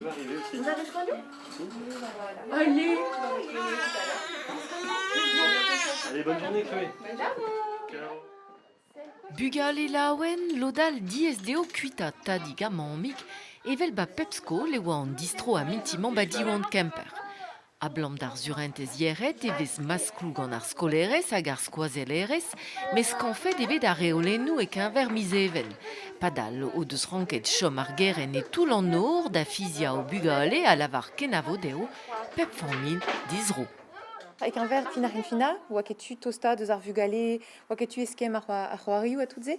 Vous avez répondu Allez Allez, bonne journée, Chloé. Bugale laouen, lodal diez deo kuita tadi gamamik, evel ba pep skol e oa an distro a minti mamba diwant Kemper. Abalamour d'ar surentez yec'hed e vez maskloù gant ar skolaerez hag ar skoazellerez, met skañvet eo bet ar reolennoù e-keñver miz Even. Padal o deus ranket chom ar gerent e toull an nor da fiziañ o bugale a lavar kenavo dezho, pep familh dizro. E-keñver fin ar c'hinfinañ, 'oa ket tu tostaat eus ar vugale, 'oa ket tu eskemm ar c'hoarioù ha tout se.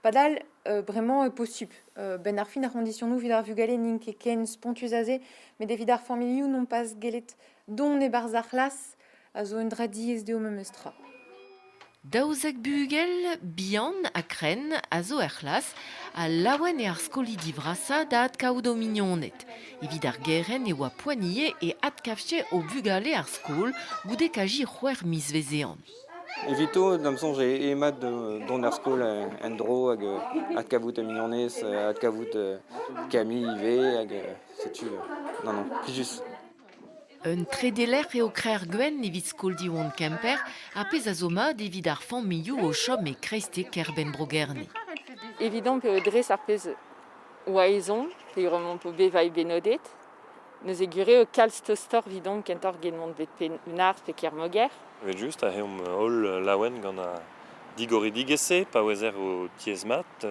Padal Euh, vraiment euh, possible. Euh, ben ar fin ar conditionou vid ar vugale n'int ket ken spontus a se, met evit ar familhoù n'on pas gellet dont e barzh ar c'hlas a zo un dra diaes dezho memes tra. Daouzek bugel bihan ha kren a zo er c'hlas ha laouen eo ar skolidi vrasa da adkaout o mignoned. Evit ar geren e oa poanie e adkafche o vugale ar skol goude kaji c'hwec'h miz vezean. Evito, da'm soñj, eo mat dont er skol en-dro hag adkavout mignonez, adkavout Camille ivez hag setu. Non, non, plijus. Un trede lec'h eo Krec'h Gwenn evit skol Diwan Kemper, ar pezh a zo mat evit ar familhoù o chom e kreizte kêr-benn Bro-Gerne. Evidon eo dres ar pezh 'oa ezhomm, peogwir omp bevailh bennodet. Neuze gwir eo kalz tostoc'h evidon kentoc'h get mont bet Penn-Hunarth pe Kermoger. Evel-just a reomp holl laouen gant an digoridigezh-se pa ouezer o tiez-mat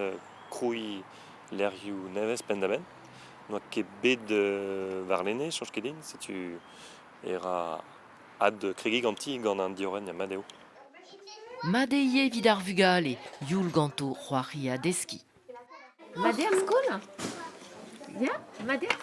krouiñ lec'hioù nevez penn-da-benn. N'oa ket bet warlene, soñj ket din. Setu e ra adkregiñ ganti gant an diorren mat eo. Mat eo ivez evit ar vugale, youl ganto c'hoari ha deskiñ. Mat eo ar skol? Ya, mat eo.